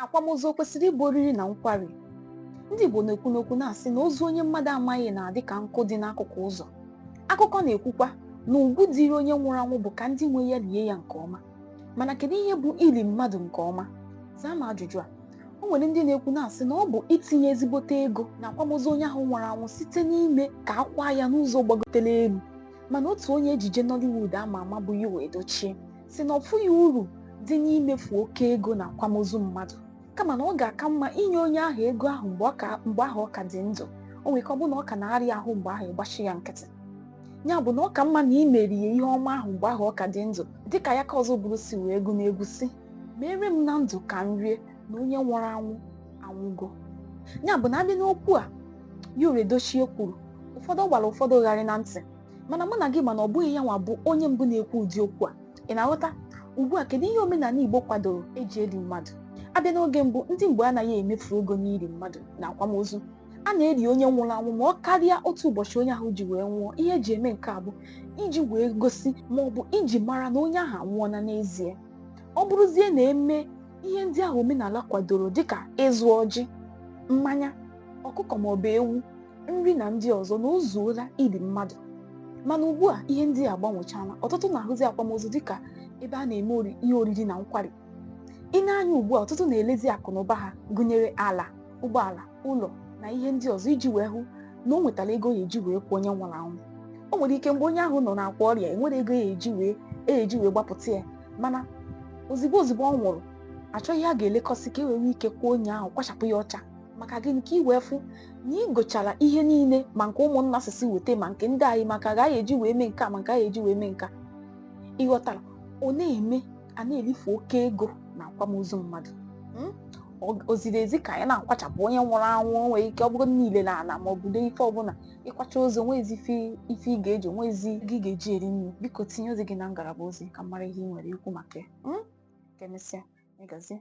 akwamozu o kwesịrị ịbụ oriri na nkwari ndị Igbo na-ekwu n'okwu na-asị na ozu onye mmadụ amaghị na-adị ka nkụ dị n'akụkụ ụzọ akụkọ na-ekwukwa na ugwu dịrị onye nwụrụ anwụ bụ ka ndị nwe ya lie ya nke ọma mana kedu ihe bụ ili mmadụ nke ọma zaa m ajụjụ a o nwere ndị na-ekwu na-asị na ọ bụ itinye ezigbote ego n'akwamozu onye ahụ nwụrụ anwụ site n'ime ka a kwaa ya n'ụzọ gbagotere elu mana otu onye ejije Nollywood ama ama bụ Yul Edochie sị na ọ fụghị uru dị n'imefu oke ego n'akwamozu mmadụ kama na ọ ga-aka mma inye onye ahụ ego ahụ mgbe ọ ka- mgbe ahụ ọ ka dị ndụ o nwere ike ọ bụrụ na ọ ka na-arịa ahụ mgbe ahụ ị gbachi ya nkịtị ya bụ na ọ ka mma na ị mere ya ihe ọma ahụ mgbe ahụ ọ ka dị ndụ dịka Ayaka Ozubulu si wee gụọ n'egwu sị meere m na ndụ ka m rie na onye nwụrụ anwụ anwụgo ya bụ na a bịa n'okwu a Yul Edochie kwuru ụfọdụ gbara ụfọdụ gharịị na ntị mana mụ na gị ma na ọ bụghị ya nwa bụ onye mbụ na-ekwu ụdị okwu a ị na-aghọta ugbu a kedu ihe omenala Igbo kwadoro e ji eli mmadụ a bịa n'oge mbụ ndị Igbo anaghị emefu ego n'ili mmadụ na akwamozu a na-eli onye nwụrụ anwụ ma ọ karịa otu ụbọchị onye ahụ ji wee nwụọ ihe e ji eme nke a bụ iji wee gosi ma ọ bụ iji mara na onye ahụ anwụọla n'ezie ọ bụrụzie na e mee ihe ndị ahụ omenala kwadoro dịka ịzụ ọjị mmanya ọkụkọ ma ọ bụ ewu nri na ndị ọzọ na o zuola ili mmadụ mana ugbu a ihe ndị a gbanwechala ọtụtụ na-ahụzi akwamozu dịka ebe a na-eme ori- ihe oriri na nkwari ị nee anya ugbu a ọtụtụ na-elezi akụ na ụba ha gụnyere ala ụgbọala ụlọ na ihe ndị ọzọ iji wee hụ na o nwetara ego ya eji wee kwaa onye nwụrụ anwụ o nwere ike mgbe onye ahụ nọ n'akwa ọrịa enwerọ ego ya eji wee ya eji wee gbapụta ya mana ozigbo ozigbo ọ nwụrụ a chọọ ihe a ga-elekọsị ka e wee nwee ike kwaa onye ahụ kwachapụ ya ọcha maka gịnị ka i wee fụ na ị gochara ihe niile ma nke ụmụnna sisi weta ma nke ndị anyị maka ga anyị eji wee mee nke a ma nke anyị eji wee mee nke a ị ghọtara ọ na-eme a na-elifu oke ego n'akwamozu mmadụ Mm? Ọ- o ziri ezi ka anyị na-akwachapụ onye nwụrụ anwụ o nwere ike ọ bụrụ na i lee ala ma ọ bụ lee ife ọbụla ị kwachaa ozu o nwezi ife ife ị ga-eji o nwezi ego ị ga-eji eri nri biko tinye ozi gị na ngalaba ozi ka m mara ihe ị nwere ikwu maka ya Mm? ka e mesịa ya gazie